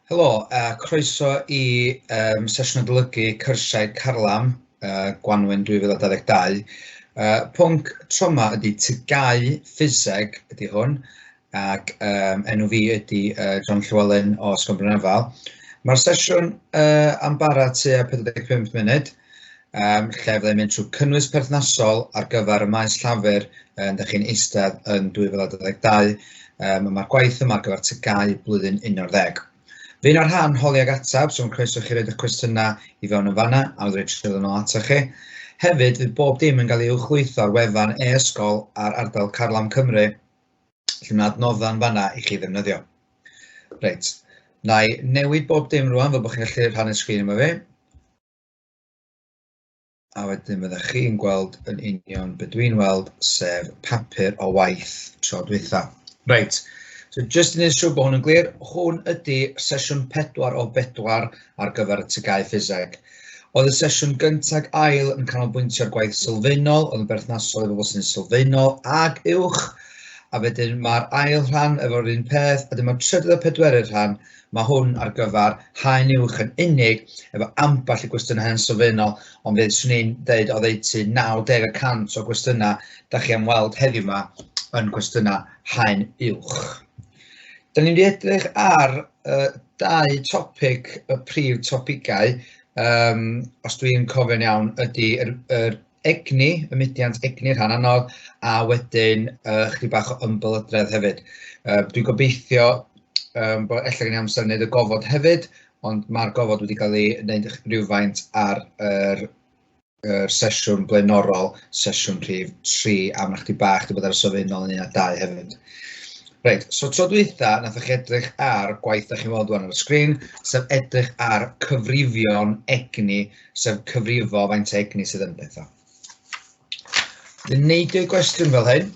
Helo a croeso i yym sesiwn adolygu cyrsiau carlam yy Gwanwyn 2022. Yy pwnc tro 'ma ydy TGAU ffiseg ydy hwn ac yym enw fi ydy yy John Llewelyn o Sgwm Brynafael. Ma'r sesiwn yy am bara tua 45 munud. um, lle fyddai'n mynd trwy cynnwys perthnasol ar gyfer y maes llafur um, da chi'n eistedd yn 2022. Um, Mae'r gwaith yma ar gyfer tygau blwyddyn 11. Fe yna'r rhan holi ag atab, so'n croeso chi roed y cwestiynau i fewn yn fanna, a wna'n rhaid trwy'n ôl ato chi. Hefyd, fydd bob dim yn cael ei uwchlwytho ar wefan e-ysgol ar ardal Carlam Cymru, lle mae adnoddau'n fanna i chi ddefnyddio. Reit, na i newid bob dim rwan fel bod chi'n gallu rhannu'r sgrin yma fi. A wedyn fyddech chi'n gweld yn union be dwi'n weld, sef papur o waith tro dwytha. Reit, so jyst yn siŵr bod hwn yn glir, hwn ydy sesiwn pedwar o bedwar ar gyfer y tygau ffiseg. Oedd y sesiwn gyntag ail yn canolbwyntio'r gwaith sylfaenol, oedd yn berthnasol i bobl sy'n sylfaenol ag uwch, a wedyn mae'r ail rhan efo'r un peth, a dyma trydydd a pedwerydd rhan, Mae hwn ar gyfer haen uwch yn unig, efo ambell i gwestiynau yn sylfaenol, ond fe 'swn i'n deud oddeutu 90 y cant o gwestiynau da chi am weld heddiw 'ma yn gwestiynau haen uwch. Da ni'n mynd i edrych ar uh, dau topig, y prif topigau, um, os dwi'n cofio'n iawn, ydy yr, yr egni, y mudiant egni, rhan anodd, a wedyn uh, chdi bach o ymbelydredd hefyd. Uh, dwi'n gobeithio um, bod efallai gen i amser wneud y gofod hefyd, ond mae'r gofod wedi cael ei wneud rhywfaint ar yr, yr sesiwn blaenorol, sesiwn rhif 3, a mae chdi bach wedi bod ar y sofyn ôl yn un a dau hefyd. Reit, so tro dwytha, nath chi edrych ar gwaith da chi'n weld wan ar y sgrin, sef edrych ar cyfrifion egni sef cyfrifo faint o egni sydd yn pethau. Dwi'n neud y gwestiwn fel hyn.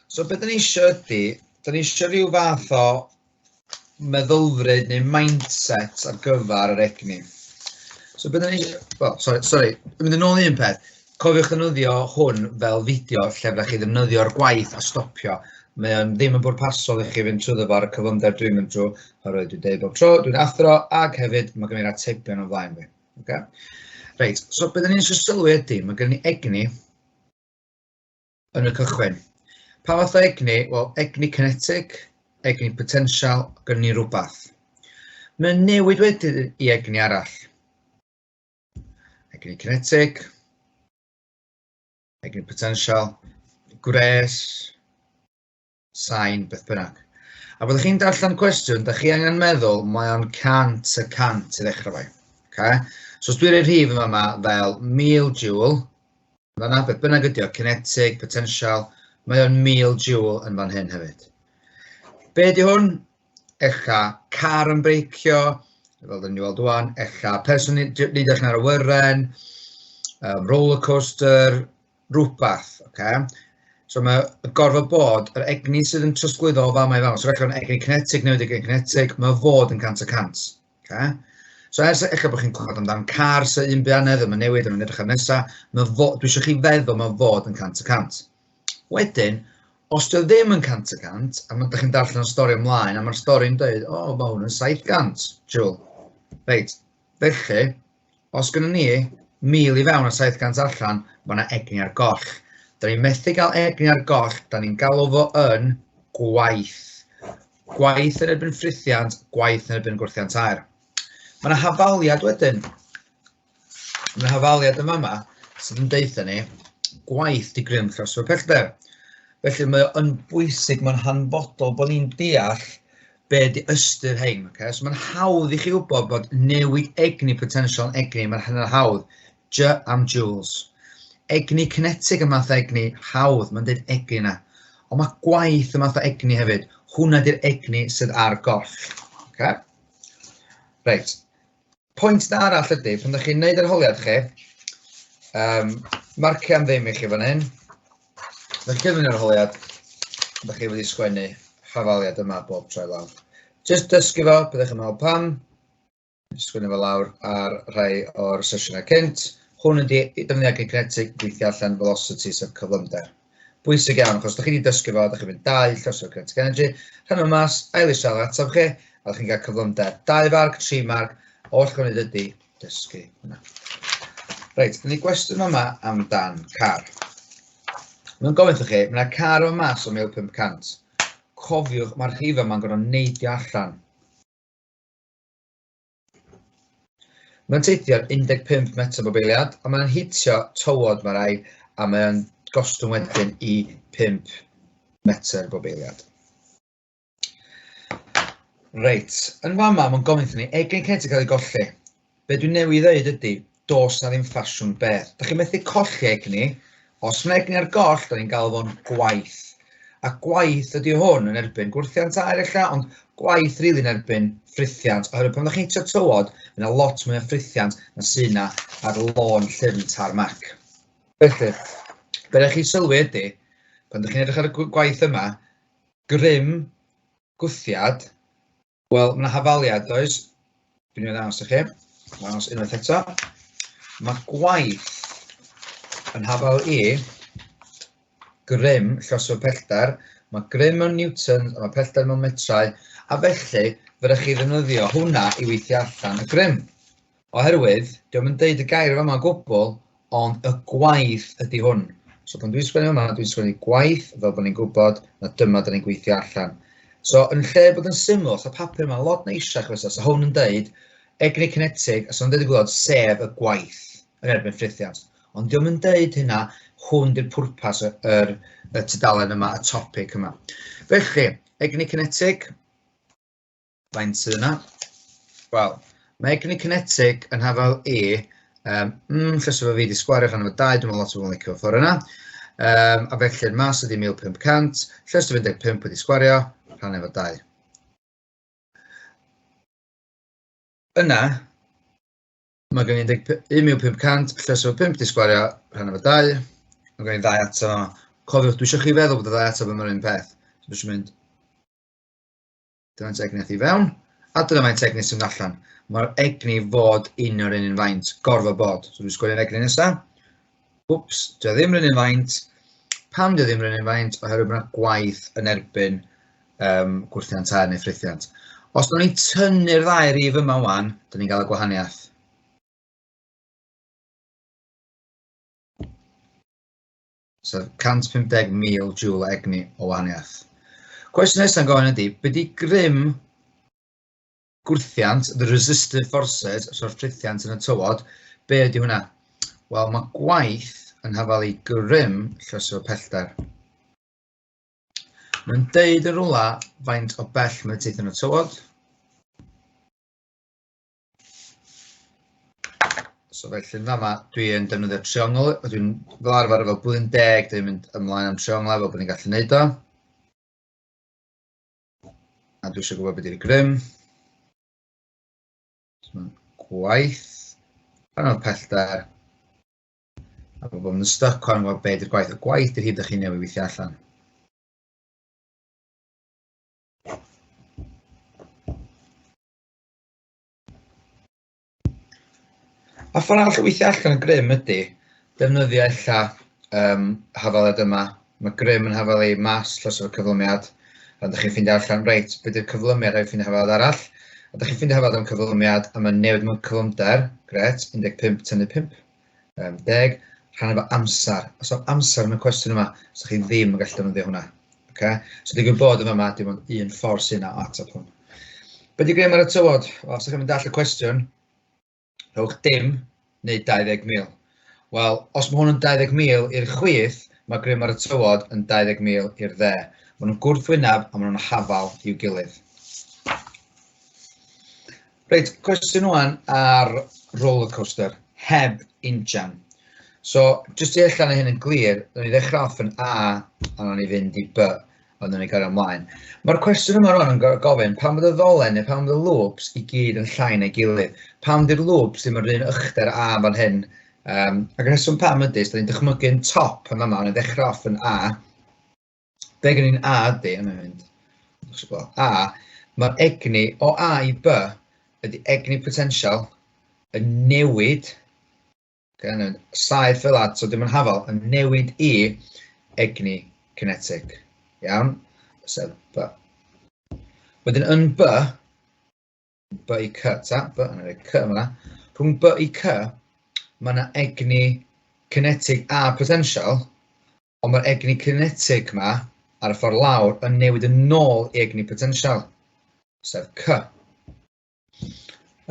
So beth ni eisiau ydy, da ni eisiau rhyw fath o meddylfryd neu mindset ar gyfer yr egni. So beth ni eisiau, well, sorry, sorry, mynd yn ôl un peth. Cofiwch ddefnyddio hwn fel fideo lle fyddwch chi ddefnyddio'r gwaith a stopio. Mae o'n ddim yn bwrpasol i chi fynd trwy ddyfod y cyflymder dwi'n mynd trwy, oherwydd dwi'n deud bob tro, dwi'n athro, ac hefyd mae gen i'r atebion o'n flaen fi. Okay? Reit, so beth ni'n eisiau sylwi ydy, mae gen i egni yn y cychwyn. Pa fath o egni? Wel, egni kinetic, egni potensial, gen ni rhywbeth. Mae'n newid wedyn i egni arall. Egni kinetic. Egni potential. Gwres. Sain, beth bynnag. A byddwch chi'n darllen cwestiwn, da chi angen meddwl mae o'n 100 y 100 i ddechrau fe. Okay? So os dwi'n rhoi rhif yma fel 1000 joule, Mae 'na beth bynnag ydi o, kinetic, potensial, mae o'n 1000 joule yn fan hyn hefyd. Be di hwn? Ella car yn breicio, fel dyn ni weld wan, ella person yn edrych ar y wyren, um, roller coaster, rhywbeth. Okay? So mae gorfod bod, yr egni sydd yn trosglwyddo o fama i fama, so rhaid o'n egni kinetic newid egni kinetic, mae fod yn cant y cant. Okay. So ers eich bod chi'n clywed amdan car sy'n un byd ddim yn newid, yn edrych ar nesaf, mae fo, dwi eisiau chi feddwl mae fod yn 100 y cant. Wedyn, os dwi ddim yn 100 y cant, a mae ydych chi'n darllen y stori ymlaen, a mae'r stori'n dweud, o, oh, mae hwn yn 700, Jewel. Reit, felly, Os gynnon ni 1,000 i fewn a 700 allan, mae yna egni ar goll. Da ni'n methu cael egni ar goll, da ni'n galw fo yn gwaith. Gwaith yn erbyn ffrithiant, gwaith yn erbyn gwrthiant aer. Mae yna hafaliad wedyn. Mae yna hafaliad yn fama sydd yn deutha ni gwaith di grym throsfa pellder. Felly mae o'n bwysig, mae'n hanfodol bod ni'n deall be ydy ystyr hein. Okay? So mae'n hawdd i chi wybod bod newid egni potensial egni, mae'n hynny'n hawdd. J am joules. Egni kinetic y math egni, hawdd, mae'n dweud egni yna. Ond mae gwaith y math o egni hefyd. Hwna di'r egni sydd ar gorff. Okay? Reit. Pwynt da arall ydy, pan ydych chi'n gwneud yr holiad chi, um, marcio am ddim i chi fan hyn, ydych chi'n cyfnod yr holiad, ydych chi wedi sgwennu hafaliad yma bob tro lawr. Just dysgu fo, byddwch yn meddwl pam, sgwennu fo lawr ar rhai o'r sesiynau cynt, hwn ydy defnyddio kinetic gweithio allan velocity sef cyflymder. Bwysig iawn, achos da chi wedi dysgu fo, da chi'n mynd dau llosio o'r Kinetic Energy, rhan yma mas, ail eisiau ar ataf chi, a da chi'n cael cyflymder. Dau farg, tri marg, oll chi'n gwneud ydy dysgu hwnna. Reit, dyna ni gwestiwn yma amdan car. Mae'n gofyn chi, mae yna car o mas o 1500. Cofiwch, mae'r rhif yma'n gorfod neidio allan. Mae'n teithio'n 15 metr bob eiliad, ond mae'n hitio tywod mae rai, a mae'n gostwng wedyn i 5 metr bob eiliad. Reit, yn fama mae'n gofyn wrthyn ni, egin Kent yn cael ei golli. Be dwi'n newydd ddeud ydy, Does 'na ddim ffasiwn beth. Da chi methu colli egni. Os mae egni ar goll, da ni'n gael fo'n gwaith. A gwaith ydy hwn yn erbyn gwrthiant air ella, ond gwaith rili yn erbyn ffrithiant. Oherwydd pan ddech chi'n hitio tywod, mae yna lot mwy o ffrithiant na sy'n yna ar lôn llyfn tarmac. Felly, be ydych chi'n sylwi ydy, pan ydych chi'n edrych ar y gwaith yma, grym, gwthiad, Wel, mae yna hafaliad, does? Dwi'n mynd ddangos i chi. Ddangos unwaith eto. Mae gwaith yn hafal i grym llosgfawr pellter. Mae grym yn newtons a mae pellter mewn metrau, a felly fe ydych chi ddefnyddio hwnna i weithio allan y grym. Oherwydd, dio'm yn deud y gair yn fama o gwbl, ond y gwaith ydy hwn. So pan dwi'n sgwennu yma, dwi'n sgwennu gwaith fel bod ni'n gwybod na dyma da ni'n gweithio allan. So yn lle bod yn syml, so papur yma lot neisiach fysa, so hwn yn deud egni cinetig, a so yn deud y gwybod sef y gwaith yn erbyn ffrithiant. Ond diolch yn deud hynna, hwn di'r pwrpas y, yr, y tudalen yma, y topic yma. Felly, egni cinetig, Faint sydd yna? Wel, mae egni kinetic yn hafal E. Um, mm, llys efo fi wedi sgwario rhan efo 2, dwi'n meddwl lot o bobl yn licio ffordd yna. Um, a felly yn mas ydi 1500, llys 15 wedi sgwario rhan efo 2. Yna, mae gen i 1500, llys efo 5 wedi sgwario rhan efo 2. Mae gen i ddau ato. Cofiwch, dwi eisiau chi feddwl bod y ddau ato yma'r un peth. Dwi eisiau mynd Dyma'n tegnes i fewn, a dyna mae'n tegnes sy'n allan. Mae'r egni fod un o'r un yn faint, gorfod bod. So dwi'n sgwylio'r egni nesaf. Wps, dwi ddim rhywun yn faint. Pam dwi ddim rhywun yn faint? Oherwydd bod yna gwaith yn erbyn um, gwrthiant tair neu ffrithiant. Os dyn ni'n tynnu'r ddau rif yma wan, dyn ni'n cael y gwahaniaeth. So 150,000 jŵl egni o wahaniaeth. Cwestiwn nesaf yn gofyn ydy, beth di grym gwrthiant, the resistive forces, so'r ffrithiant yn y tywod, be ydy hwnna? Wel, mae gwaith yn hafal i grym llysio pellter. Mae'n deud yn rhywle faint o bell mae teithio yn y tywod. So felly yn fama, dwi yn defnyddio triongl, dwi'n fel arfer efo blwyddyn deg, dwi'n mynd ymlaen am trionglau fel bod ni'n gallu neud o. A dwi eisiau gwybod beth yw'r grym. Gwaith. Pan o'n pellter. A bod yn stuck o'n gwybod beth yw'r gwaith. Y gwaith yw'r hyd ydych chi'n newid weithio allan. A ffordd arall o weithio allan y grym ydy defnyddio ella um, hafaled yma. Mae grym yn hafal ei mas tros y cyflymiad. A ydych chi'n ffeindio allan, reit, beth yw'r cyflymiad rhaid ffeindio hafaled arall. A ydych chi'n ffeindio hafaled am cyflymiad a mae'n newid mewn cyflymder, gret, 15 tynnu 5. Um, deg, rhan efo amser. Os o'r amser yn y cwestiwn yma, so chi ddim yn gallu defnyddio hwnna. Okay? So digwydd bod yn yma, dim ond un ffordd sy'n yna at y pwn. Be di grym ar y tywod? Os ydych chi'n mynd all y cwestiwn, rhowch dim neu 20,000. Wel, os mae hwn yn 20,000 i'r chwith, mae grym ar y tywod yn 20,000 i'r dde. Mae nhw'n gwrthwyneb a mae nhw'n hafal i'w gilydd. Reit, cwestiwn ŵan ar roller coaster, heb injan. So, jyst i allan hyn yn glir, rydyn ni ddechrau off yn A, a rydyn ni fynd i B, a rydyn ni gario ymlaen. Mae'r cwestiwn yma rwan yn gofyn, pan fod y ddolen neu pan fod y loops i gyd yn llain ei gilydd, pan fod i'r loops ddim yn rhywun ychdau'r A fan hyn, um, ac yn hyswm pam ydy, rydyn ni'n dychmygu'n top yn yma, rydyn ni'n ddechrau off yn A, be gen i'n A ydy, yn mynd, A, mae'r egni o A i B ydy egni potensial yn newid, gan yn saith fel ad, so dim yn hafal, yn newid i egni cinetig. Iawn? Sef B. Wedyn yn B, B i C, ta, B, yn rhoi C yma. Rhwng B i C, mae yna egni cinetig a potensial, ond mae'r egni cinetig yma ar y ffordd lawr yn newid yn nôl i egni potensial, sef C.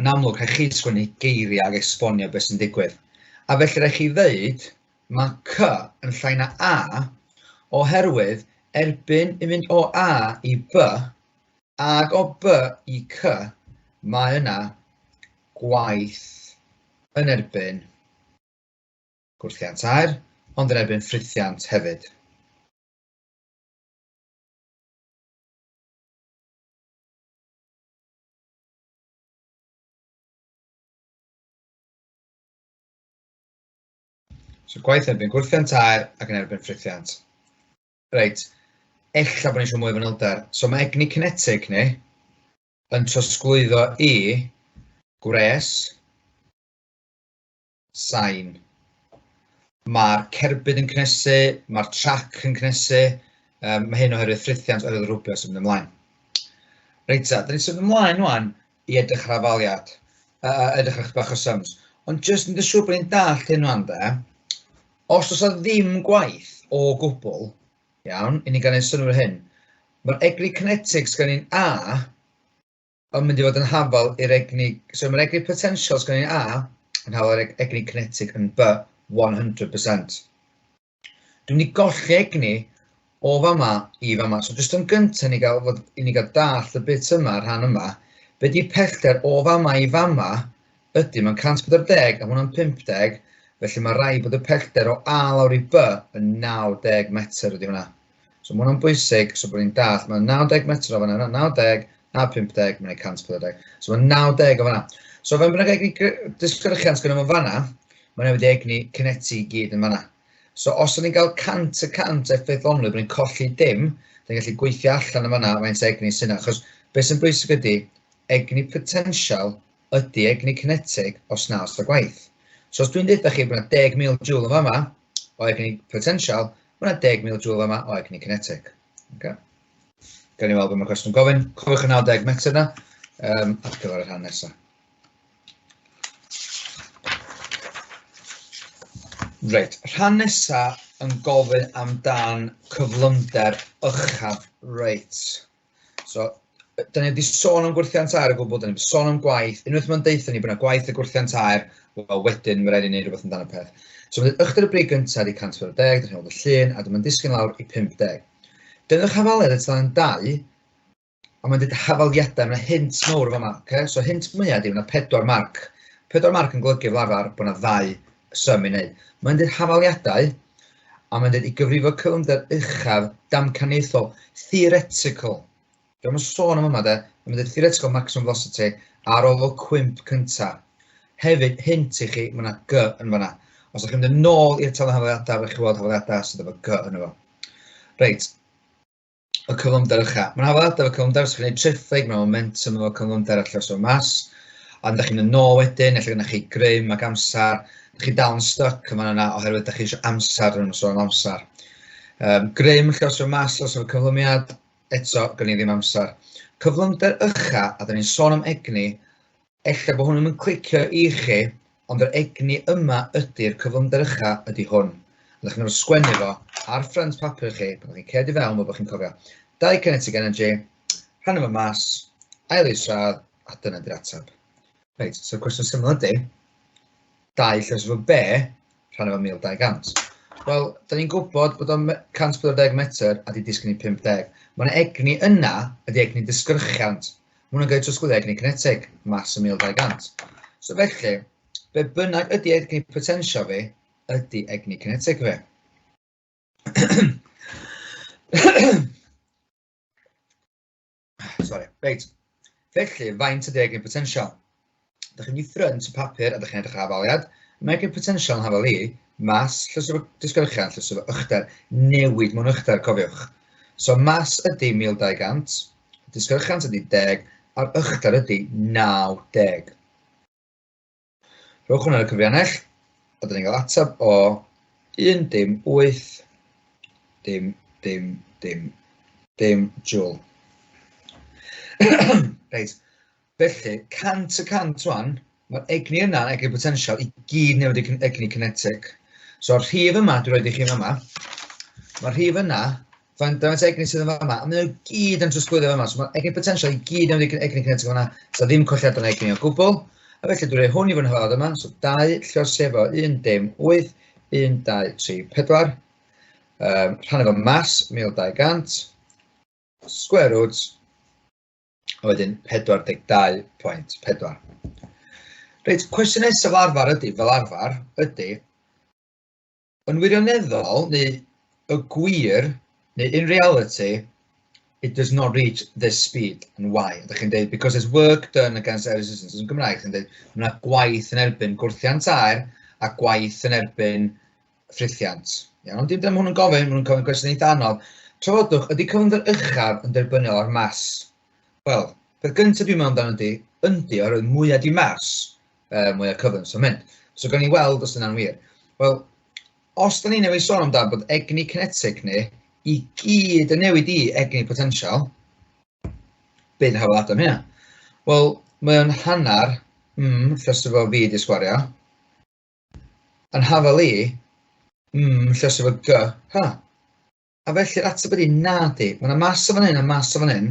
Yn amlwg, rhaid chi sgwennu geiriau ag esbonio beth sy'n digwydd. A felly rhaid chi ddeud, mae C yn llai na A, oherwydd erbyn yn mynd o A i B, Ac o B i C, mae yna gwaith yn erbyn gwrthiant aer, ond yn erbyn ffrithiant hefyd. So gwaith yn erbyn gwrthiant aer ac yn erbyn ffrithiant. Reit, ella bod ni eisiau mwy o fanylder. So mae egni cinetig ni yn trosglwyddo i gwres, sain. Mae'r cerbyd yn cnesu, mae'r trac yn cnesu, um, mae hyn oherwydd ffrithiant oherwydd rwbio sy'n mynd ymlaen. Reit ta, da ni'n symud ymlaen rwan i edrych ar afaliad, a, a edrych ar bach o sums. Ond jyst yn dy siŵr bod ni'n dallt hyn rhan da, os oes ddim gwaith o gwbl, iawn, i ni gael ei synwyr hyn, mae'r egni kinetics gan ni'n A yn mynd i fod yn hafal i'r egni, so mae'r egni potentials gan ni'n A yn hafal i'r egni kinetic yn B 100%. Dwi'n mynd i golli egni o fama i fama. So jyst yn gyntaf ni gael, fod, i ni gael dall y bit yma, rhan yma, be di pellter o fama i fama ydy, mae'n 140 a hwnna'n 50, felly mae rai bod y pellter o A lawr i B yn 90 metr ydy hwnna. So mae hwnna'n bwysig, so bod ni'n dall, mae'n 90 metr o fanna, yna, 90, na 50, mae'n 140. So mae'n 90 o fanna. So fe mae'n egni disgyrchiant gyda fo fanna, mae'n wedi egni cyneti i gyd yn fanna. So os o'n i'n cael 100 y 100 effeithlonrwydd, bod ni'n colli dim, dyn gallu gweithio allan yn fanna faint egni sy'n achos beth sy'n bwysig ydy egni potensial ydy egni cinetig os na os da gwaith. So os dwi'n dweud chi bod yna 10,000 joule yn fama o egni potensial, mae yna 10,000 joule fama o egni cinetig. Okay? Gawn ni weld beth mae cwestiwn gofyn. Cofiwch y 90 metr yna um, ar gyfer y rhan nesaf. Reit, rhan nesa yn gofyn amdan cyflymder uchaf. Reit. So, da ni wedi sôn am gwrthiant air o gwbl, da ni wedi sôn am gwaith. Unwaith mae'n deutha ni bod yna gwaith y gwrthiant air, wel wedyn mae rhaid i ni wneud rhywbeth amdano peth. So mae ychydig y brig gyntaf wedi 140, da chi'n gweld y llun, a dyma'n disgyn lawr i 50. Dyngwch hafaliad y tan dau, a mae'n dweud hafaliadau, mae'n hint mawr yma, okay? so hint mwyaf ydy, mae'n pedwar marc. Pedwar marc yn golygu fel arfer bod yna ddau Symud neu. Mae'n dweud hafaliadau, a mae'n dweud i gyfrifo cyflymder uchaf damcaniaethol, theoretical. Dwi'n mynd sôn am yma de, mae'n dweud theoretical maximum velocity ar ôl o cwmp cyntaf. Hefyd, hint i chi, mae yna G yn fanna. Os ydych chi'n mynd yn ôl i'r talu hafaliadau, fe chi weld hafaliadau sydd efo G yn efo. Reit. y cyflymder ycha. Mae'n hawdd adaf y cyflymder, os ydych chi'n gwneud triffig, mae momentum efo cyflymder allan o'r mas, ond ydych chi'n yno wedyn, efallai gyda chi grym ac amser, ydych chi dal yn stuck yma yna oherwydd ydych chi eisiau amser yn ymwneud â'r amser. Um, grym lle os yw'n mas, os yw'n cyflymiad, eto, gan i ddim amser. Cyflymder ycha, a dyn ni'n sôn am egni, Ella bo hwn ddim yn clicio i chi, ond yr egni yma ydy'r cyflymder ucha ydy hwn. A dych chi'n gorfod sgwennu fo ar ffrynt papur chi pan dych chi'n ced i fewn fel bod chi'n cofio. Dau kinetic energy, rhannu fo mas, ail isradd, a dyna di'r atab. Reit, so'r cwestiwn syml ydy, dau llys efo be, rhan efo 1200. Wel, da ni'n gwybod bod o'n 140 metr a di disgyn i 50. Mae yna egni yna, ydy egni disgyrchiant. Mae hwnna'n cael trosglwyddo egni cinetig, mas y 1200. So felly, be bynnag ydy egni potensio fi, ydy egni cinetig fi. Sorry, reit. Felly, faint ydy egin potensial? Dych chi'n mynd i ffrynt y papur a dych chi'n edrych ar afaliad. Mae egin potensial yn hafal i, mas, llysio disgyrchian, llysio ychder, newid mewn ychder, cofiwch. So mas ydy 1200, disgyrchiant ydy 10, a'r ychder ydy 90. Rhowch hwnna ar y cyfriannell, a dyn ni'n cael atab o 1 dim 8 dim dim dim dim jwl. Reit, felly, cant y cant rwan, mae'r egni yna, egni potensial, i gyd newid i egni kinetic. So'r rhif yma dwi'n rhoi i chi yma, mae'r rhif yna Faint o egni sydd yn fanna? A maen nhw gyd yn trosglwyddo fanna. So mae egni potensial i gyd yn egni kinetic fanna. So ddim colliad yn egni o gwbl. A felly dwi'n rhoi hwn i fy nhrad yma. So 2 llwyr sefo 1 dim 8, 1, 2, 3, 4. Um, rhan efo mas 1200. Square root. A wedyn 42.4. Reit, cwestiwn nesaf fel arfer ydy, fel arfer, ydy, yn wirioneddol, neu y gwir, neu in reality, it does not reach this speed and why. Ydych chi'n dweud, because there's work done against air resistance yn Gymraeg, chi'n dweud, mae yna gwaith yn erbyn gwrthiant air a gwaith yn erbyn ffrithiant. Iawn, ond dim dyna hwn yn gofyn, maen nhw'n cofyn cwestiwn eitha anodd. Trafodwch, ydy cyflymder uchaf yn derbyniol ar mas? Wel, peth gyntaf dwi'n meddwl amdano ydy, yndi, oherwydd mwyaf di mas, uh, mwy o cyflym sy'n mynd. So gan ni weld os yna'n wir. Wel, os da ni newid sôn amdano bod egni kinetic ni i gyd yn newid i egni potensial, beth hawl adael hynna? Wel, mae o'n hanner mm, llysio fo fi di sgwario. Yn hafel i, mm, llysio fo g, ha. A felly'r ateb ydy nadi. Mae yna mas o fan hyn a mas o fan hyn.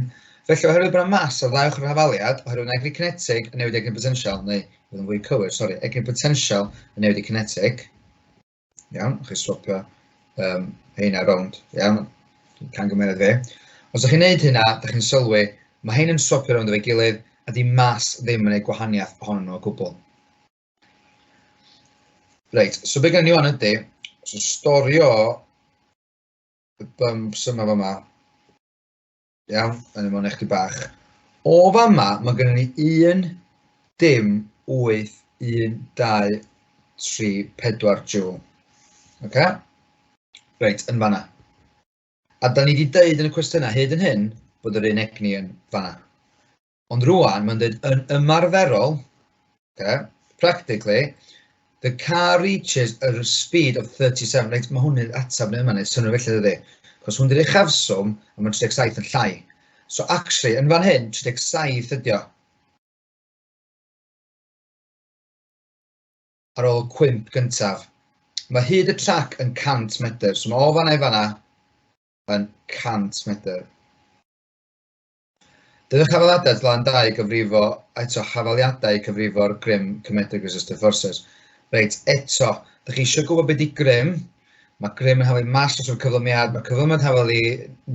Felly oherwydd bod yna mas ar ddau ochr yr hafaliad, oherwydd mae egni cinetig yn newid egni potensial, neu fod yn fwy cywir, sori, egni potensial yn newid y cinetig. Iawn, chi swapio um, heina rownd, iawn, can gymeriad fe. Os ydych chi'n neud hynna, ydych chi'n sylwi, mae hyn yn swapio rownd efo'i gilydd, a di mas ddim yn ei gwahaniaeth ohonyn nhw o gwbl. Reit, so be gen i o'n ydy, so storio y bumps yma fama. Iawn, yn ymwneud eich di bach. O fama, mae gen i un dim 8, 1, 2, 3, 4 joule. Okay? Reit, yn fanna. A da ni wedi dweud yn y cwestiynau hyd yn hyn bod yr un egni yn fanna. Ond rŵan mae'n dweud yn ymarferol, okay, practically, the car reaches a speed of 37, reit, mae hwn yn ateb neu yma, neu synnwyr felly ddydy. Cos hwn di'r uchafswm, a mae 37 yn llai. So actually, yn fan hyn, 37 ydi o. Ar ôl cwymp gyntaf. Mae hyd y trac yn 100 metr, so mae o fanna i fanna yn 100 metr. Bydd y Chafaliadau Flaen Dau gyfrifo eto Chafaliadau cyfrifo'r grym Comedic Resistive Forces. Reit, eto, dych chi eisiau gwybod beth di grym? Mae grym yn haflu mas os o'r cyflymiad, mae cyflymiad yn haflu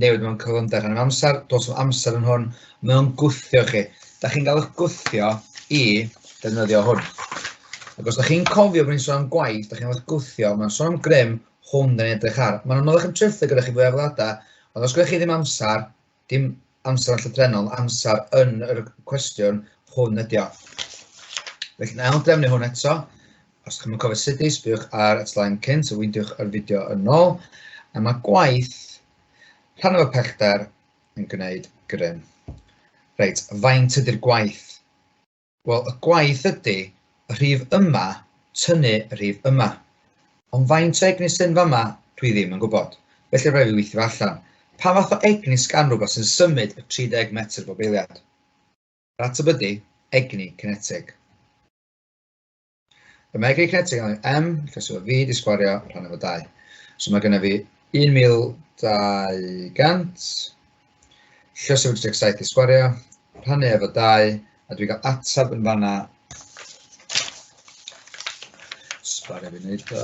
newid mewn cyflymder rhan am amser, dos am amser yn hwn, mewn gwthio chi. Da chi'n cael eich gwthio i defnyddio hwn. Ac os da chi'n cofio bod ni'n sôn am gwaith, da chi'n cael eich gwthio, mae'n sôn am grym, hwn da ni'n edrych ar. Mae'n anodd eich ymtrylltu gyda chi fwy o fladau, ond os gyda chi ddim amser, Dim amser yn llythrennol, amser yn yr cwestiwn hwn ydi o. Felly, na ail drefnu hwn eto. Os chi'n mynd cofio sut i, sbywch ar y slaen cynt, a wyndiwch yr fideo yn ôl. A mae gwaith rhan o'r pellter yn gwneud grym. Reit, faint ydy'r gwaith? Wel, y gwaith ydy, rhif yma, tynnu rhif yma. Ond faint o egni sy'n fama, dwi ddim yn gwybod. Felly rhaid fi weithio allan. Pa fath o egni sgan rhywbeth sy'n symud y 30 metr bob eiliad? Yr ateb ydy, egni cinetig. Fe mae gig net yn M, felly so fi di sgwario rhan efo 2. So mae gennym fi 1200, lle so fi 17 di sgwario, rhannu efo 2, a dwi'n cael ateb yn fanna. Sgwario fi wneud o.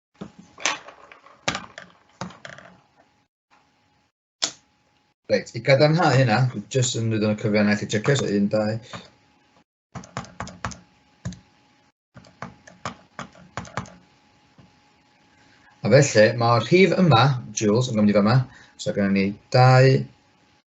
Reit, i gadarnhau hynna, jyst yn mynd o'n cyfiannau chi checio, so un, dau. A felly, mae'r rhif yma, Jules, yn gofyn i fa yma, so gyda ni dau,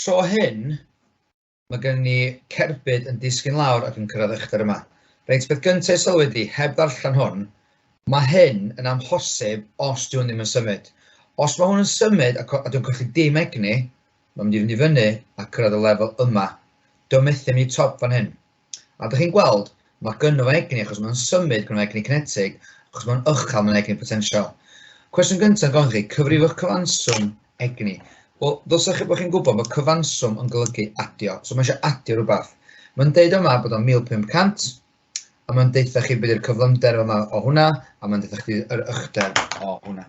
Tro hyn, mae gen i cerbyd yn disgyn lawr ac yn cyrraedd uchder yma. Reit, beth gyntaf i sylwi ydi, heb ddarllen hwn, mae hyn yn amhosib os dwi hwn ddim yn symud. Os mae hwn yn symud a, a dwi'n colli dim egni, mae'n mynd i fynd i fyny a cyrraedd y lefel yma. Dwi'n methu mynd i top fan hyn. A dych chi'n gweld, mae gynno fo egni achos mae'n symud, gynno fo egni cinetig, achos mae'n uchel, mae'n egni potensial. Cwestiwn gyntaf yn gofyn chi, cyfrifwch cyfanswm egni. Wel, ddylsech chi bod chi'n gwybod bod cyfanswm yn golygu adio, so mae eisiau adio rhywbeth. Mae'n deud yma bod o'n 1500, a mae'n deutha chi beth yw'r cyflymder yma o hwnna, a mae'n deutha chi yr ychdeb o hwnna.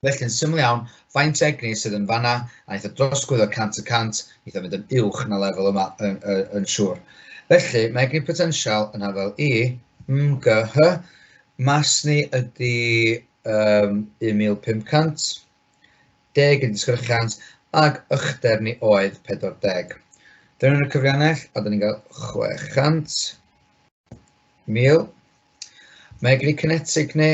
Felly yn syml iawn, faint egni sydd yn fanna, a eitha drosgwydd o 100 y 100, eitha mynd yn uwch na lefel yma yn, yn, yn siŵr. Felly, mae egni potensial yn hafel i MGH, mas ni ydy um, 1500, deg yn disgyrchiant, ac ychdeb ni oedd 40. Dyna nhw'n y cyfriannell, a dyn ni'n cael 600 mil. Mae egni cynetig ni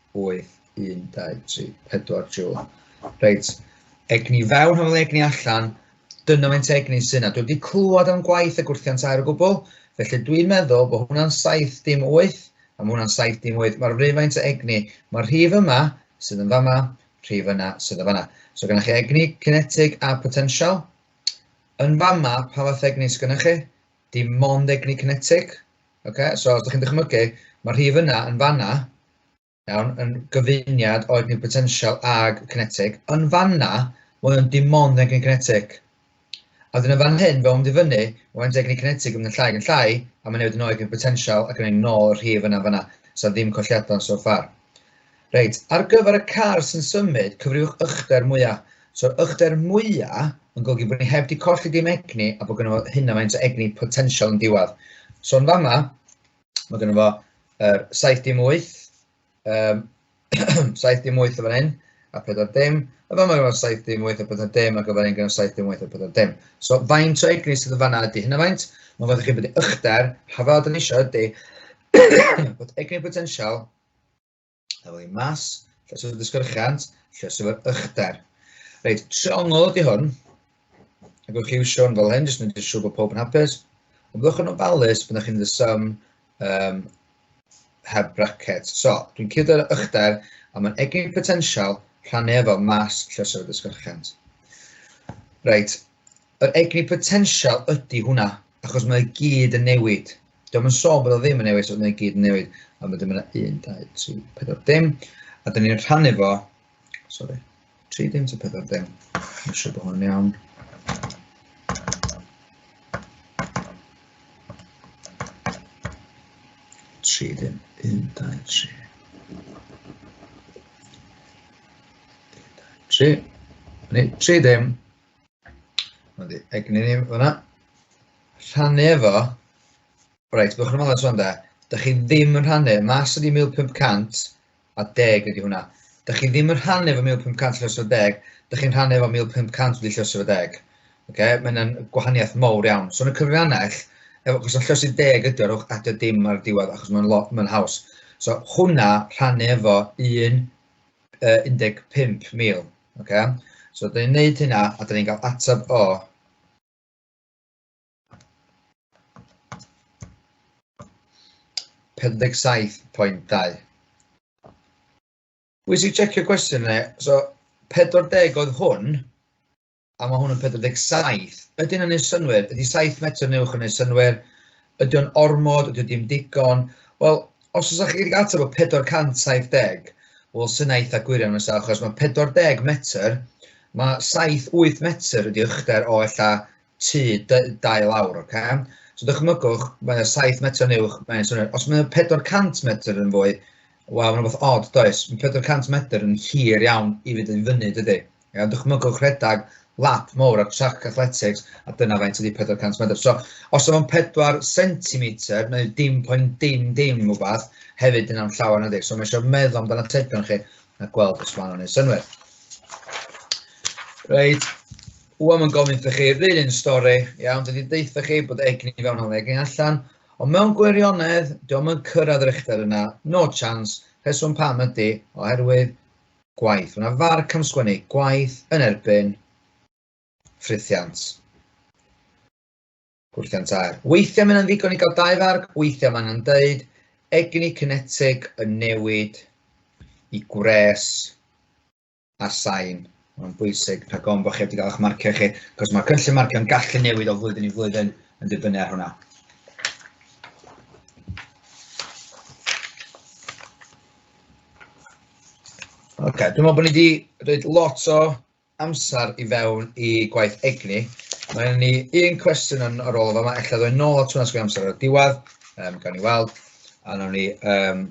8, 1, 2, 3, 4 joule. Reit, egni fewn, hafel egni allan, dyna mae'n egni sy'n yna. Dwi wedi clywed am gwaith y gwrthiant air o gwbl, felly dwi'n meddwl bod hwnna'n 7 dim 8, a mae hwnna'n 7 dim 8. Mae'r rhywfaint o egni, mae'r rhif yma sydd yn fama, rhif yna sydd yn fama. So gynnwch chi egni, kinetic a potensial. Yn fama, pa fath egni sydd gynnwch chi? Dim mond egni cinetig. Okay? So, os ydych chi'n dychmygu, mae'r rhif yna yn fanna, iawn, yn gyfuniad o egni potensial ag cinetig. Yn fanna, mae o'n dim ond egni cinetig. A wedyn yn fan hyn, fe ond i fyny, mae'n egni cinetig yn mynd yn llai yn llai, a mae'n newid yn oed yn potensial ac yn ei nôl y rhif yna fanna. So ddim colliadau so far. Reit, ar gyfer y car sy'n symud, cyfriwch ychdder mwya. So'r ychdder mwya yn golygu bod ni heb 'di colli dim egni a bod gynno fo hynna faint o egni potensial yn diwedd. So yn fama, mae gynno fo er, 7 dim 8, um, 7 dim 8 o fan hyn, a 4 dim. Yn fama gynno fo 7 dim 8 a 4 dim, ac o fan hyn gynno 7 dim 8 a 4 dim. So faint o egni sydd yn fanna ydy hynna faint? Mae'n fawr i chi bod ychdder, hafod yn eisiau ydy, bod egni potensial Efo ei mas, llyswr dysgyrchant, llyswr ychder. Reit, triongl ydy hwn. Ac o'ch chi iwsio'n fel hyn, jyst yn edrych siŵr bod pob yn hapus. Ond byddwch yn ofalus byddwch chi'n the sum um, heb bracket. So, dwi'n cyddo'r ychder, a mae'n egin potensial rhannu efo mas llyswr dysgyrchant. Reit, yr egni potensial ydy hwnna, achos mae gyd yn newid. Diolch yn sôn bod o ddim yn newid, ond mae'n gyd yn newid, a mae dim yna 1, 2, 3, 4 dim, a dyn ni'n rhannu fo, sorry, 3 dim to 4 dim, mae'n siŵr bod hwn iawn. Tri dim, un, dau, tri. Tri. Tri dim, Ond egni ni fyna. Rhannu efo. Reit, byddwch yn ymwneud sôn da. Dych chi ddim yn rhannu. Mas ydi 1500 a deg ydi hwnna. Dych chi ddim yn rhannu efo 1500 llys o deg. Dych chi'n rhannu efo 1500 wedi llys o deg. Okay? Mae yna'n gwahaniaeth mowr iawn. So yn y cyfrannell, efo, os o'n llys i deg ydi, rhowch adio dim ar diwedd achos mae'n ma haws. So hwnna rhannu efo un uh, 15,000. Okay? So, dyn ni'n neud hynna a dyn ni'n cael ateb o Pendeg 7.2. Pwysig checio cwestiwn yna, so 40 oedd hwn, a mae hwn yn 47. Ydy hynna'n neud synwyr? Ydy 7 metr yn uwch yn neud synwyr? Ydy o'n ormod? Ydy o dim digon? Wel, os oes chi wedi ateb o 470, wel, sy'n eitha gwir iawn nesaf, achos mae 40 metr, mae 7-8 metr ydy uchder o ella tu dau lawr, oce? Okay? So dychmygwch, mae yna 7 metr yn uwch, mae'n swnio'n... Os mae yna 400 metr yn fwy, wel, mae'n rhywbeth odd, does? Mae 400 metr yn hir iawn i fynd i fyny, dydy? Iawn, dychmygwch rhedeg lap mowr ar trac athletics a dyna faint ydy 400 medr. So, os o'n 4 centimetr neu dim poen dim dim rhywbeth, hefyd yn am llawer na di. So mae eisiau meddwl amdan atebion chi a gweld os maen nhw'n ei synwyr. Reit, wwa mae'n gofyn wrthych chi, rydyn yn stori, iawn, dydy deitha chi bod egni i fewn hwn, egni allan, ond mewn gwirionedd, diolch yn cyrraedd yr uchder yna, no chance, rheswm pam ydy, oherwydd gwaith. Mae yna farc am sgwennu gwaith yn erbyn ffrithiant. Gwrthiant air. Weithiau mae'n ddigon i gael dau farc, weithiau mae'n angen dweud egni cynetig y newid i gwres a sain. Mae'n bwysig rhag ofn bod chi wedi cael eich marcio chi, cos mae cynllun marcio'n gallu newid o flwyddyn i flwyddyn yn dibynnu ar hwnna. Oce, okay, dwi'n meddwl bod ni wedi rhaid lot o amser i fewn i gwaith egni. Mae ni un cwestiwn yn ar ôl yma, efallai ddod nôl at hwnna sgwyn amser o'r diwedd, um, gan i weld, a nawn ni um,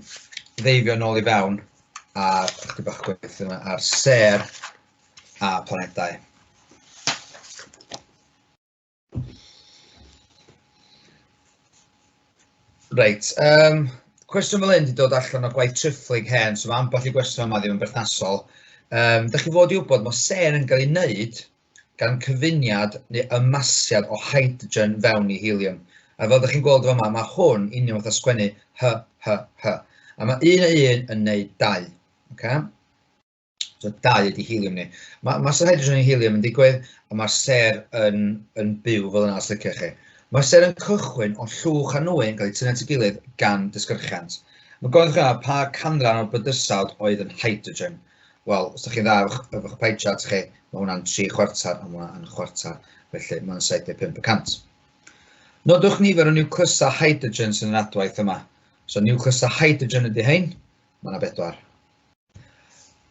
ddeifio nôl i fewn ar chdi bach gwaith yma ar ser a planedau. Reit, um, cwestiwn fel hyn wedi dod allan o gwaith triphlyg hen, so mae ambell i gwestiwn yma ddim yn berthnasol. Um, da chi fod i wybod mae ser yn cael ei wneud gan cyfuniad neu ymasiad o hydrogen fewn i helium. A fel ydych chi'n gweld yma, mae hwn union fath o sgwennu hy, hy, hy. A mae un a un yn neud dau. Okay? So dau ydy helium ni. Mae ma ser hydrogen yn helium yn digwydd, a mae'r ser yn, yn byw fel yna os liciwch chi. Mae ser yn cychwyn o llwch a nwy yn cael ei tynnu at ei gilydd gan dysgyrchiant. Mae gofyn chi pa canran o'r bydysawd oedd yn hydrogen. Wel, os ydych chi'n dda efo eich pie chart chi, mae hwnna'n 3 chwarter a mae hwnna yn chwarter, felly mae'n 75 y cant. Nodwch nifer o niwclysau hydrogen sy'n yr adwaith yma. So niwclysau hydrogen ydy hyn, mae yna bedwar.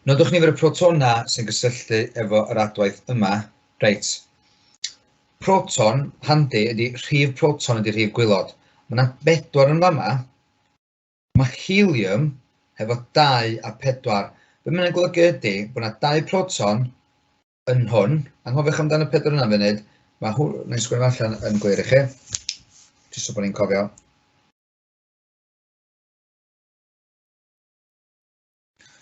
Nodwch nifer y protona sy'n gysylltu efo yr adwaith yma. Reit. Proton, handi, ydy rhif proton ydy rhif gwylod. Mae yna bedwar yn fama. Mae helium hefo dau a pedwar. Be mae'n yna'n golygu ydy bod yna dau proton yn hwn. Anghofiwch amdano pedwar yna funud. Mae hwn, na i sgwrdd allan yn glir i chi. Jyst so bod ni'n cofio.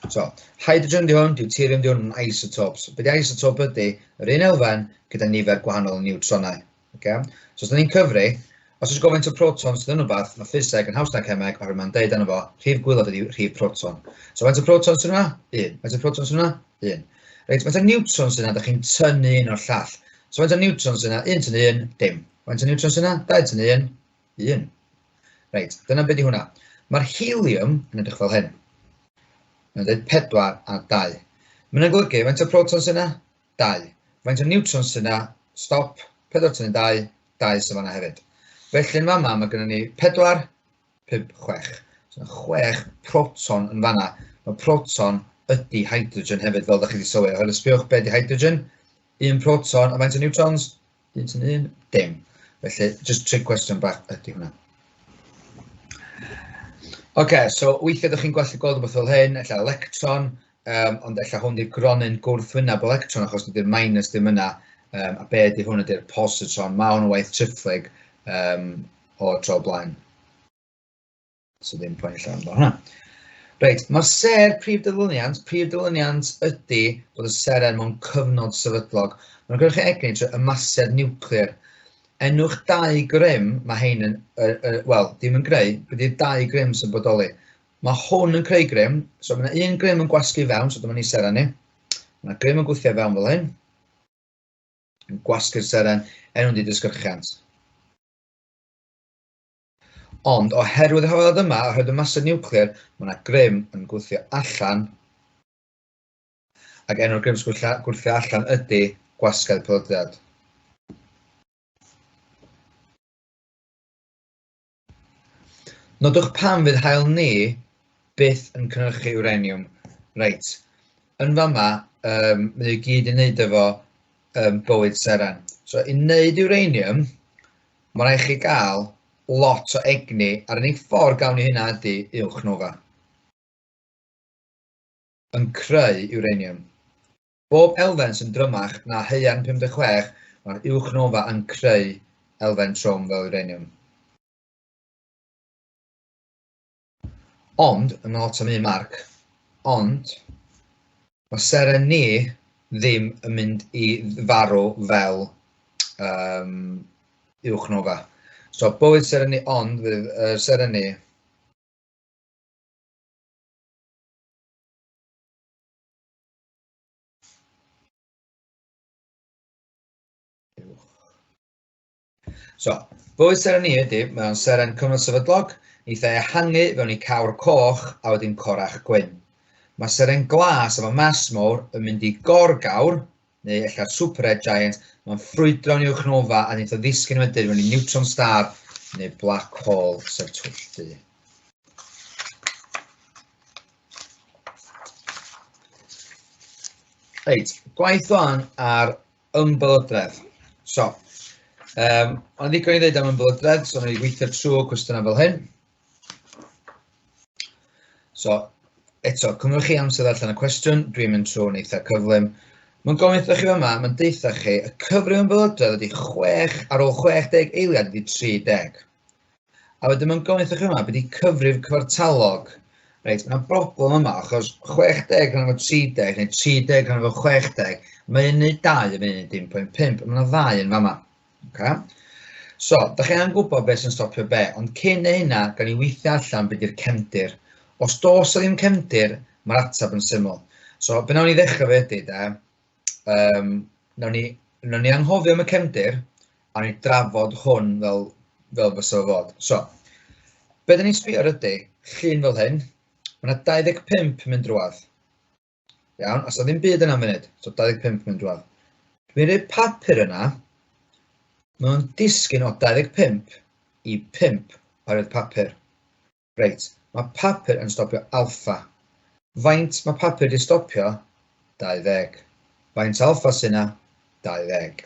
So, hydrogen di hwn, deuterium di hwn yn isotopes. Be di isotope ydy? Yr un elfen gyda nifer gwahanol o niwtronau. Okay? So, os da ni'n cyfri, os oes gofyn to protons dyn rhywbeth, mae ffiseg yn haws na cemeg, oherwydd mae'n deud yna fo, rhif gwylod ydy rhif proton. So, faint o protons sy'n yna? Un. Faint o protons sy'n yna? Un. Reit, faint o niwtrons sy'n yna? Da chi'n tynnu un o'r llall. So, faint o niwtrons sy'n yna? Un tynnu un, dim. Faint o niwtrons sy'n yna? Dau tynnu un, 1. Reit, dyna beth yw hwnna. Mae'r helium yn edrych fel hyn. Mae'n dweud 4 a 2. Mae'n yna golygu, faint o proton sy'n yna? 2. Faint o neutrons sy'n yna? Stop, 4 tyn yn 2, 2 sy'n fanna hefyd. Felly yn fanna mae gennym ni 4, 5, 6. So mae 6 proton yn fanna. Mae proton ydy hydrogen hefyd, fel ydych chi wedi sylwi. Oherwydd sbiwch beth ydy hydrogen? Un proton, a faint o neutrons? Dim sy'n un? Dim. Felly, just trig cwestiwn bach ydy hwnna. Oce, okay, so weithiau ydych chi'n gweld gweld rhywbeth fel hyn, efallai electron, um, ond efallai hwn di'r gronyn gwrthwyneb electron achos dydy'r minus ddim yna, um, a be ydy hwn ydy'r positron, mae hwn yn waith triphlyg um, o'r tro blaen. So ddim poen llawn fel hwnna. Reit, mae'r ser prif dyluniant, prif dyluniant ydy bod y ser er mewn cyfnod sefydlog. Mae'n gwneud chi egni trwy ymasedd niwclear. Enwch dau grym, mae hein yn, uh, uh, wel, dim yn greu, bydd i'r dau grym sy'n bodoli. Mae hwn yn creu grym, so mae yna un grym yn gwasgu fewn, so dyma ni seren ni. Mae yna grym yn gwythio fewn fel hyn, yn gwasgu'r seren, enw'n di dysgyrchiant. Ond oherwydd y rhyfeddod yma, oherwydd y masau niwclear, mae yna grym yn gwthio allan, ac enw'r grym sy'n gwthio allan ydy gwasgedd pelydriad. Nodwch pam fydd hael ni byth yn cynhyrchu uranium. Reit, yn fama, um, mae i gyd i wneud efo um, bywyd seren. So, i wneud uranium, Mae rhaid chi gael lot o egni a'r unig ffordd gawn ni hynna ydy uwch nofa. Yn creu uranium. Bob elfen sy'n drymach na haearn 56, mae'r uwch nofa yn creu elfen trwm fel uranium. Ond, yn ôl Tom Mark, ond, mae seren ni ddim yn mynd i farw fel um, uwch nofa. So, bywyd seren ni ond fydd uh, seren ni So, bwyd seren ni ydy, mae o'n seren cyfnod sefydlog, neith e ehangu fewn i cawr coch a wedyn corach gwyn. Mae seren glas efo mas mowr yn mynd i gorgawr, neu ella'r super red giant, mae'n ffrwydro'n i'w chnofa a neith o ddisgyn wedyn mewn i neutron star neu black hole sef twylltu. Reit, gwaith o'n ar Ymbelydredd. So, um, ond ddigon i ddweud am ymbelydredd, so mae weithio trwy cwestiynau fel hyn. So, eto, cymryd chi amser allan y cwestiwn, dwi'n mynd trwy'n eitha cyflym. Mae'n gofyn chi yma, mae'n deutha chi, y cyfrif ymbelydredd ydy 6 ar ôl 60 eiliad ydy 30. A wedyn mae'n gofyn wrthych yma, beth i cyfrif cyfartalog? Reit, mae'n broblem yma, achos 60 rhan efo 30, neu 30 rhan efo 60, mae'n yna 2 yn mynd i'n 1.5, mae'n yna 2 yn fama. Okay? So, da chi angen gwybod beth sy'n stopio be, ond cyn ei hynna, gan i weithio allan beth i'r cefndir. Os dos o ddim cefndir, mae'r ateb yn syml. So, be nawn ni ddechrau fe ydy, da, um, nawn ni, nawn ni anghofio am y cefndir, a ni drafod hwn fel, fel fysa fod. So, be dyn ni'n sbio ar ydy, llun fel hyn, mae yna 25 yn mynd drwad. Iawn, os ddim byd yna munud, so 25 yn mynd drwad. Dwi'n rhoi papur yna, mae'n disgyn o 25 i 5 oherwydd papur. Reit, mae papur yn stopio alffa. Faint mae papur 'di stopio? 20. Faint alffa sy' 'na? 20.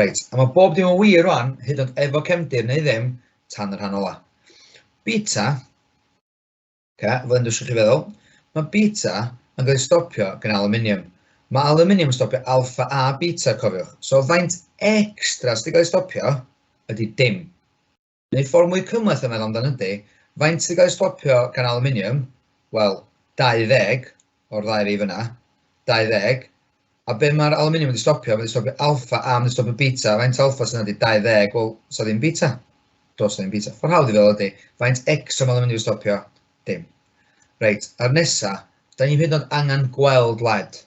Reit, a mae bob dim yn wir rwan, hyd ond efo cefndir neu ddim, tan y rhan ola. Beta, okay, fel yn dysgu chi feddwl, mae beta yn cael ei stopio gan aluminium. Mae aluminium yn stopio alffa a beta, cofiwch. So faint extra sydd wedi cael ei stopio ydy dim. Neu ffordd mwy cymhleth o feddwl amdano ydy, faint sy'n cael ei stopio gan aluminium? Wel, 20 o'r ddau rif yna, 20. A be mae'r aluminium wedi stopio? Mae wedi stopio alfa a mae wedi stopio beta. Faint alfa sy'n ydy 20? Wel, sa ddim beta. Dos ddim beta. Ffordd hawdd i feddwl ydy, faint X o aluminium wedi stopio? Dim. Reit, a'r nesa, da ni'n hyd yn oed angen gweld led.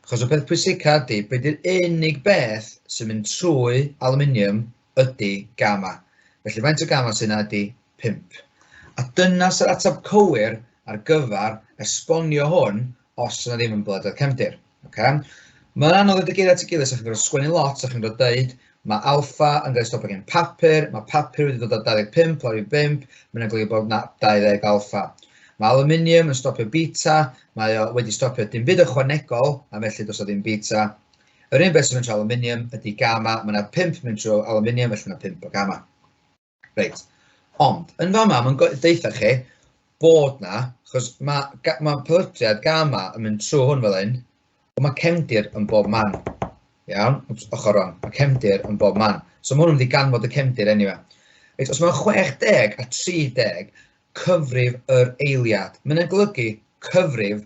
Achos y peth pwysica ydy, be di'r unig beth sy'n mynd trwy aluminium ydy gamma. Felly faint o gamma sy'n yna ydy 5. A dyna sy'r ateb cywir ar gyfer esbonio hwn os yna ddim yn blededd cefndir. Oce? Mae'n anodd rhoi dy geiriau at ei gilydd, so chi'n gorfod sgwennu lot, so chi'n gorfod deud, mae alfa yn cael ei stopio gen papur, mae papur wedi dod â 25 lawr i 5, mae'n golygu bod na 20 alfa. Mae aluminium yn stopio beta, mae o wedi stopio dim byd ychwanegol, a felly dos o ddim beta. Yr un beth sy'n mynd trwy aluminium ydy gamma, mae yna 5 mynd trwy aluminium, felly mae 5 o gamma. Reit, ond yn fama mae'n deutha chi bod na, chos mae, mae pelytriad gama yn mynd trwy hwn fel hyn, ond mae cefndir yn bob man. Iawn, ochr rong, mae cefndir yn bob man. So mae hwn yn mynd i ganfod y cefndir enw. Reit, os mae'n 60 a 30 cyfrif yr eiliad, mae'n golygu cyfrif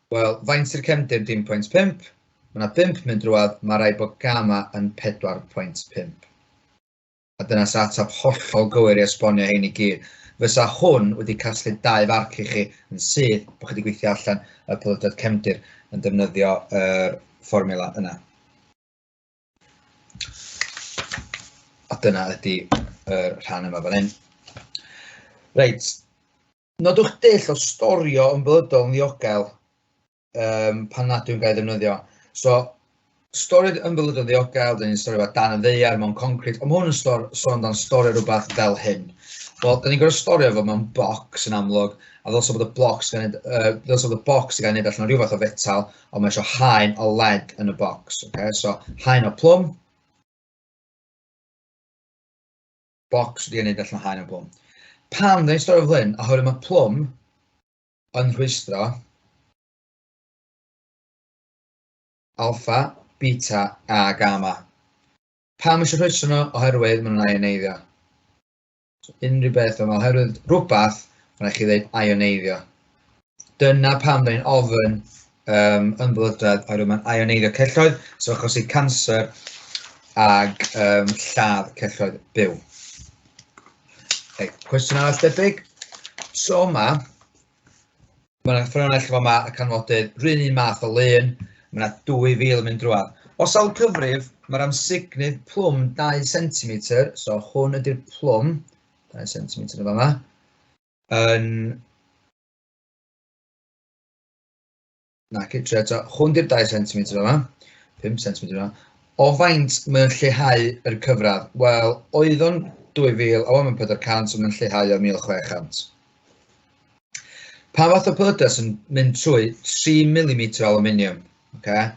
Wel, faint sy'r cefndir dim pwynt pump? Mae yna bump mynd drwad, mae rhaid bod gama yn pedwar pwynt pump. A dyna sa atab hollol gywir i esbonio hein i gyd. Fysa hwn wedi casglu dau farc i chi yn syth bod chi wedi gweithio allan y pelydriad cefndir yn defnyddio yr fformula yna. A dyna ydy yr rhan yma fan hyn. Reit, Nodwch dull o storio yn blydol yn ddiogel um, pan nad yw'n gael ddefnyddio. So, stori'r ymwylyd yn ddiogel, dyn ni'n storio fe dan y ddeiar mewn concret, ond mae hwn yn stor, sôn dan storio rhywbeth fel hyn. Wel, dyn ni'n gorfod storio fo mewn bocs yn amlwg, a ddylse bod y bocs gan uh, ddylse bod y bocs gan neud allan o rhyw fath o fetal, ond mae eisiau haen o led yn y bocs. Okay? So, haen o plwm, bocs wedi ei wneud allan o haen o plwm. Pam dyn ni'n storio flyn? Oherwydd mae plwm yn rhwystro alfa, beta a gamma. Pam eisiau rhwystro nhw? Oherwydd maen nhw'n aioneiddio. So, unrhyw beth yma, oherwydd rhywbeth, mae'n rhaid chi ddweud aioneiddio. Dyna pam da ni'n ofyn um, ymwylydrad oherwydd mae'n ioneiddio celloedd, so achos i cancer ag um, lladd celloedd byw. Okay, cwestiwn arall debyg. So yma, mae yna ffynhonnell fel yma y canfodydd, rhywun un math o lun, mae yna 2,000 yn mynd drwad. Os awl cyfrif, mae'r amsugnydd plwm 2 cm, so hwn ydy'r plwm, 2 cm yn yma. yn na, okay, trio eto, hwn di'r 2 cm yma, 5 cm yma, o faint mae'n lleihau yr cyfradd? Wel, oedd o'n 2000, a mae'n 400, so mae'n lleihau o 1600. Pa fath o byddes yn mynd trwy 3 mm o aluminium? Okay?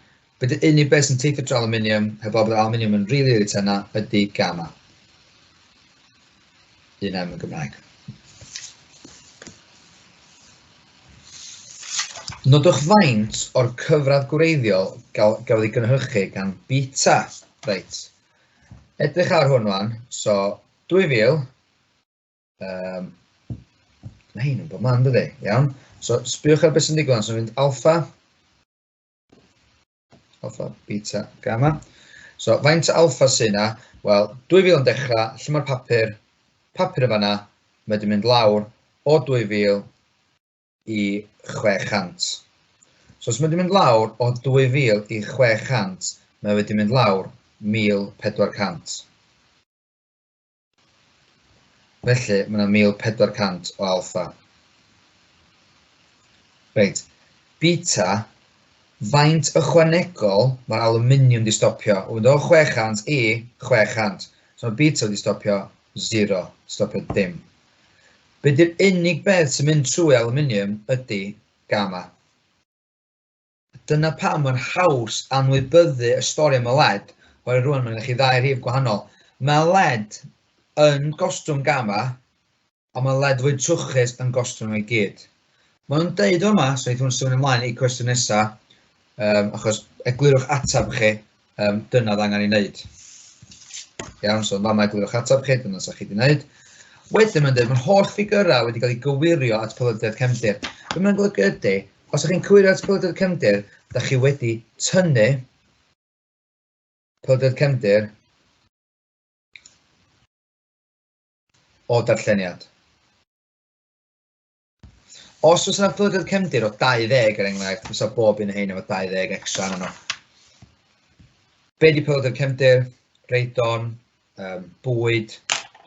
Bydd y unig beth sy'n teithio tra aluminium, heb bod bod aluminium yn rili rili tenna, ydy gamma. Un em yn Gymraeg. Nodwch faint o'r cyfradd gwreiddiol gafodd ei gynhyrchu gan Beta. Reit. Edrych ar hwn wan. So, 2000. Um, mae hyn yn bod man, dydy? Iawn. So, sbiwch ar beth sy'n digwydd. So, mynd alfa. Alfa, beta, gamma. So, faint alfa sy'n na? Wel, 2000 yn dechrau, lle mae'r papur? Papur yn fanna, mae wedi mynd lawr o 2000 i 600. So, os mae wedi mynd lawr o 2000 i 600, mae wedi mynd lawr 1400. Felly, mae yna 1400 o alpha. Reit, beta, faint ychwanegol mae'r aluminium di stopio? O fynd o 600 i 600. So mae beta wedi stopio 0, stopio dim. Be di'r unig beth sy'n mynd trwy aluminium ydy gamma. Dyna pam mae'n haws anwybyddu y stori am y led, oherwydd rwan mae'n chi ddau rhif gwahanol. Mae led yn gostwng gama, ond mae led fwy trwchus yn gostwng o'i gyd. Mae nhw'n deud yma, so eithaf nhw'n symud ymlaen i cwestiwn nesaf, um, achos eglurwch atab chi, um, dyna oedd angen ei wneud. Iawn, so yma mae glywch ateb chi, dyna sa'ch chi wedi wneud. Wedyn mae'n dweud, mae'r holl ffigurau wedi cael eu gywirio at Polydredd Cefndir. Be mae'n golygu ydy, os ydych chi'n cywirio at Polydredd Cefndir, da chi wedi tynnu Polydredd Cefndir o darlleniad. Os oes yna plygodd cefndir o 20 er enghraifft, fysa bob un o hyn efo 20 extra arno. Be di plygodd cefndir? Reidon, um, bwyd,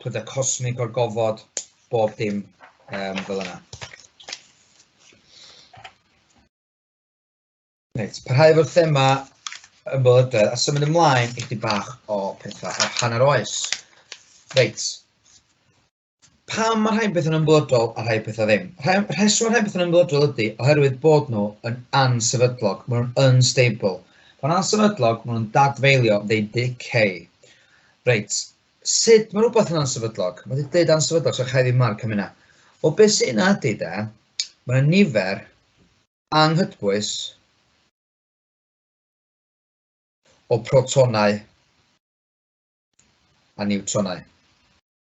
plydau cosmig o'r gofod, bob dim um, fel yna. Reit, parhau efo'r thema yn bylydredd a symud ymlaen i chdi bach o pethau o'r hanner oes. Reit, Pam mae rhai pethau'n ymwybodol a rhai pethau ddim? Rhai, rheswm rhai pethau'n ymwybodol ydy oherwydd bod nhw yn ansefydlog, maen nhw'n unstable. Pan ansefydlog, maen nhw'n dadfeilio, they decay. Reit, sut mae rhywbeth yn ansefydlog? Mae wedi dweud ansefydlog, so chai ddim marc am hynna. O beth sy'n yna ydy de, mae yna nifer anghydbwys o protonau a niwtronau.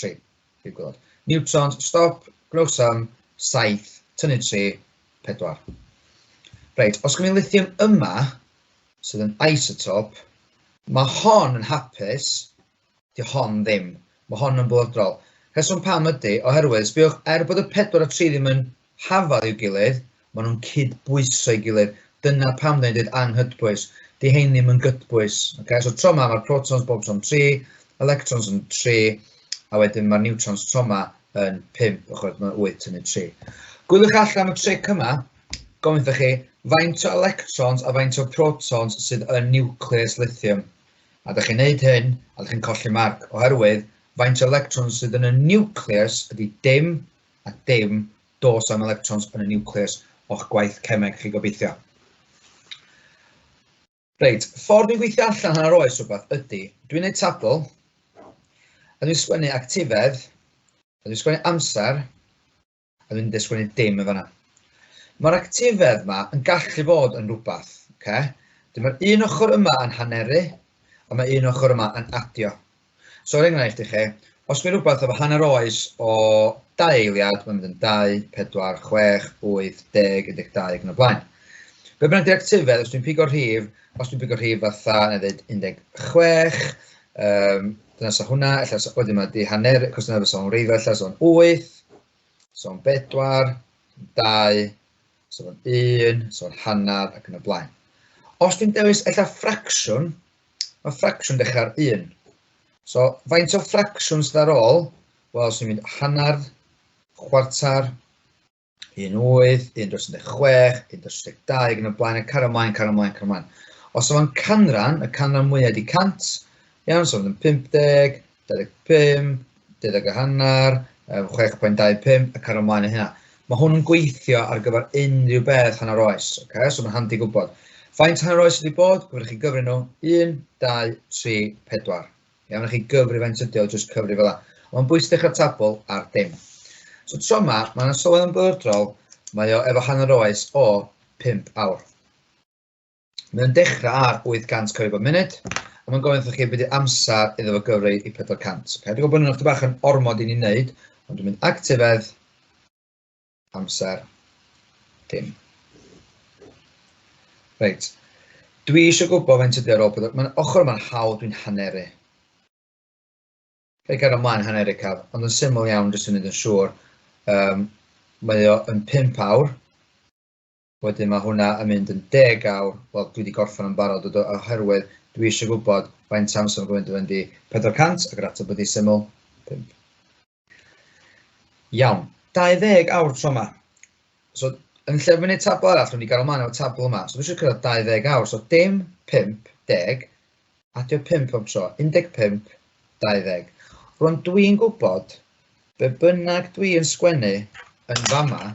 3. Prif gwaelod. Niwtrons, stop, gwnewch sym, 7, tynnu 3, 4. Reit, os gymryd lithium yma, sydd yn isotop, mae hon yn hapus, di hon ddim. Mae hon yn bwydrol. Rheswm pam ydy, oherwydd, sbiwch, er bod y 4 a 3 ddim yn hafal i'w gilydd, maen nhw'n cyd-bwyso'i gilydd, dyna pam dan ni'n dweud anghydbwys, 'di hein ddim yn gydbwys. Ocê, so tro 'ma mae'r protons bob tro'n tri, electrons yn tri, a wedyn mae'r niwtrons tro 'ma yn pump, chimod, mae wyth tynnu tri. Gwyliwch allan am y tric yma, gofyn wrthych chi, faint o electrons a faint o protons sydd yn niwcleus lithium? A da chi'n neud hyn, a da chi'n colli marc, oherwydd faint o electrons sydd yn y niwcleus ydy dim a dim dos am electrons yn y niwclews o'ch gwaith cemeg chi gobeithio. Reit, ffordd dwi'n gweithio allan hanner oes rhywbeth ydy, dwi'n neud tabl, a dwi'n sgwennu actifedd, a dwi'n sgwennu amser, a dwi'n dweud sgwennu dim yn fanna. Mae'r actifedd yma yn gallu bod yn rhywbeth, okay? Dyma'r un ochr yma yn haneru, a mae un ochr yma yn adio. So er enghraifft i chi, os mae rhywbeth efo hanner oes o dau eiliad, mae'n mynd yn 2, 4, 6, 8, 10, 12 ac yn y blaen. Be bynnag di'r actifedd, os dwi'n pigo'r rhif, os dwi'n pigo'r rhif fatha, na ddweud 16, um, dyna sa hwnna, ella sa, wedyn mae di hanner, cos dyna fysa o'n reiddo, ella sa o'n 8, sa o'n 4, 2, sa o'n 1, sa o'n hanner ac yn y blaen. Os dwi'n dewis ella ffracsiwn, Mae ffracsiwn dechrau ar 1. So, faint o ffracsiwn sydd ar ôl? Wel, os ni'n mynd hanner, chwarter, un wyth, un dros 16, un dros 12, yn y blaen, y car ymlaen, car ymlaen, car ymlaen. Os yma'n canran, y canran mwyaf ydi 100, iawn, so fydd yn 50, 25, deuddeg a hanner, yym, 6.25 ac ar ymlaen yn hynna. Mae hwn yn gweithio ar gyfer unrhyw beth hanner oes, ok, so mae'n handi gwybod. Faint hanner oes ydi bod? Gwneud chi gyfri nhw, 1, 2, 3, 4. Iawn, a chi gyfri faint ydi o, jyst cyfri fel yna. Ond mae'n bwysig dechrau tabl ar dim. So tro yma, mae'n sylwedd yn bwrdrol, mae o efo hanner oes o 5 awr. Mae'n dechrau ar 800 coed bob munud, a mae'n gofyn wrthych chi beth amser iddo fo gyfrau i 400. Okay, dwi'n gwybod bod nhw'n bach yn ormod i ni wneud, ond dwi'n mynd actifedd, amser, dim. Reit. Dwi eisiau gwybod fe'n tydi ar ôl pedwar. Mae'n ochr yma'n hawdd dwi'n haneru. Fe gael ymlaen haneru caf, ond yn syml iawn jyst yn mynd yn siŵr. Um, mae o yn 5 awr. Wedyn mae hwnna yn mynd yn deg awr, wel dwi wedi gorffen o'n barod o do, oherwydd dwi eisiau gwybod faint amser mae'n gwneud i fynd i 400 ac yr ateb wedi syml, 5. Iawn, 20 awr tro yma. So, yn lle fy wneud tabl arall, dwi'n i gael ymlaen o'r tabl yma. So, dwi eisiau cyrraedd 20 awr. So, dim 50, adio 5 pob tro, 15, 20. Rwy'n dwi'n gwybod, be bynnag dwi'n sgwennu yn fama,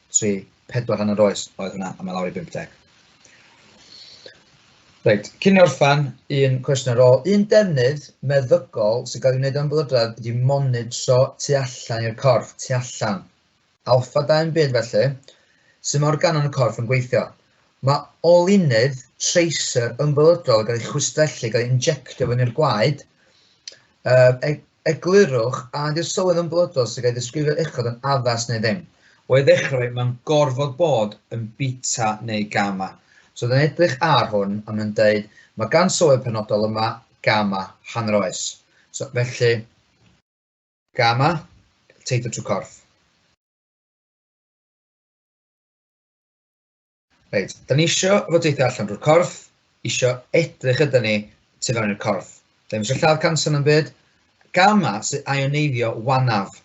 tri, pedwar hanner oes oedd hwnna, a mae lawr i 50. Reit, cyn i orffan, un cwestiwn ar ôl. Un defnydd meddygol sy'n cael ei wneud am blydradd ydy monitro tu allan i'r corff, tu allan. Alfa 2 yn byd felly, sy'n mae organau yn y corff yn gweithio. Mae olynydd tracer ymfylydol yn cael ei chwistrellu, gael ei injectio fyny'r gwaed. E, eglurwch a ydy'r sylwedd ymfylydol sy'n cael ei ddisgrifio uchod yn addas neu ddim. O'i ddechrau, mae'n gorfod bod yn bita neu gama. So oedd yn edrych ar hwn a mae'n dweud, mae gan sylwedd penodol yma gama, hanner oes. So, felly, gama, teithio trwy corff. Reit, da ni isio fod eitha allan drwy'r corff, isio edrych ydyn ni tu fewn i'r corff. Da ni eisiau lladd canser yn byd, gamma sy'n ioneiddio wanaf.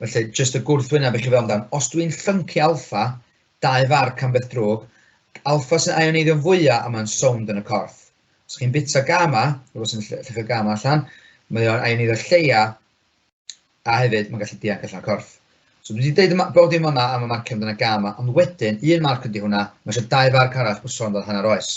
Felly, jyst y gwrthwyneb i chi fel amdan. Os dwi'n llyncu alfa, dau farc am beth drwg, alfa sy'n ioneiddio fwyaf a mae'n sownd yn y corff. Os chi'n bita gamma, rhywbeth sy'n llechio gamma allan, mae o'n ioneiddio lleia a hefyd mae'n gallu dianc allan o'r corff. So dwi wedi deud yma, bod dim yma am y marcio amdana gam yma, ond wedyn, un marc ydy hwnna, mae eisiau dau farc arall bod sôn fel hanner oes.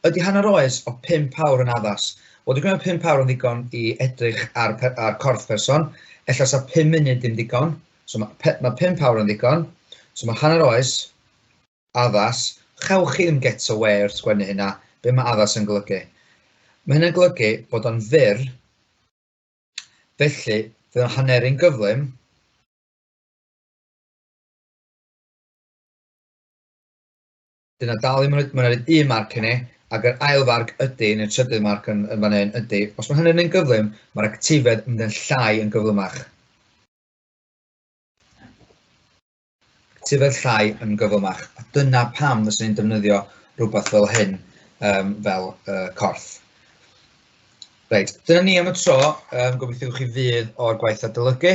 Ydy hanner oes o 5 awr yn addas? Wel, dwi'n gwneud 5 awr yn ddigon i edrych ar, ar corff person, efallai sa 5 munud ddim digon, so mae, mae 5 awr yn ddigon, so mae hanner oes, addas, chewch chi ddim get away wrth sgwennu hynna, be mae addas yn golygu? Mae hynna'n golygu bod o'n fyr Felly, fe o'n hanneru'n gyflym. Dyna dal i mynd, mae'n rhaid un marc hynny, ac yr ail farc ydy, yn y trydydd marc yn, yn fan hyn, ydy, os mae hynny'n yn gyflym, mae'r actifedd yn mynd yn llai yn gyflymach. Tyfed llai yn gyflymach. A dyna pam fyswn i'n defnyddio rhywbeth fel hyn, um, fel uh, corff. Reit, dyna ni am y tro. Um, gobeithio chi fydd o'r gwaith adolygu.